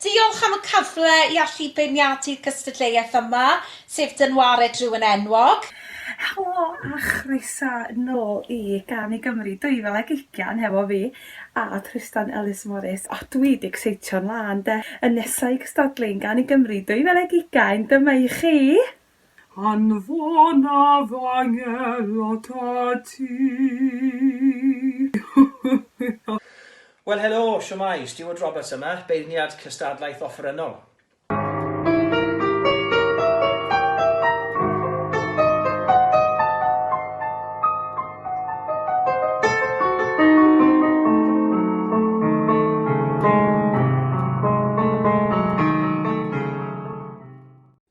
Diolch am y cyfle i allu beirniadu'r gystadleuaeth yma, sef Dynwared Rhywun Enwog. Helo a chroeso nôl i Gân i Gymru 2020 hefo fi a Trystan Ellis Morris. O dwi 'di ecseitio'n lân 'de. Y nesa i gystadlu yn Gân i Gymru 2020 dyma i chi! Anfonaf angel ata ti. Wel helo, shwmae, Steward Roberts yma, beirniad cystadlaeth offerynnol.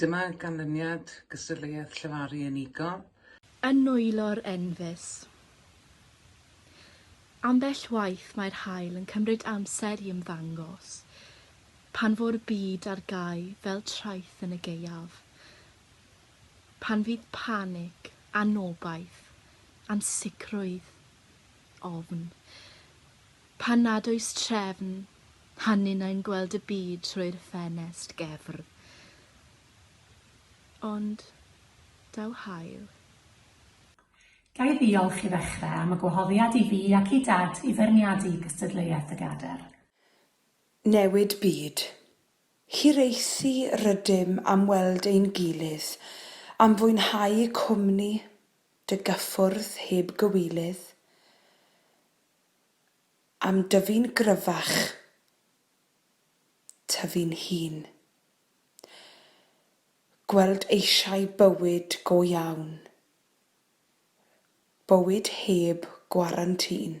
Dyma ganlyniad gystadleuaeth llefaru unigol. Yn nwylo'r enfys. Ambell waith mae'r haul yn cymryd amser i ymddangos, pan fo'r byd ar gau fel traeth yn y gaeaf. Pan fydd panig, anobaith, ansicrwydd, ofn. Pan nad oes trefn, a ninnau'n gweld y byd trwy'r ffenest gefr. Ond daw haul. Ga i ddiolch i ddechrau am y gwahoddiad i fi ac i Dad i feirniadu gystadleuaeth y Gadair? Newid byd. Hiraethu rydym am weld ein gilydd, am fwynhau cwmni dy gyffwrdd heb gywilydd, am dyfu'n gryfach, tyfu'n hŷn. Gweld eisiau bywyd go iawn, bywyd heb gwarantîn.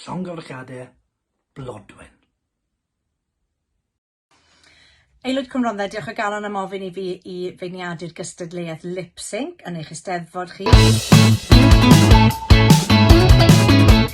Llongyfarchiadau Blodwen. Aelwyd Cwmrondda, diolch o galon am ofyn i fi i feirniadu'r gystadleuaeth lip sync yn eich Eisteddfod chi.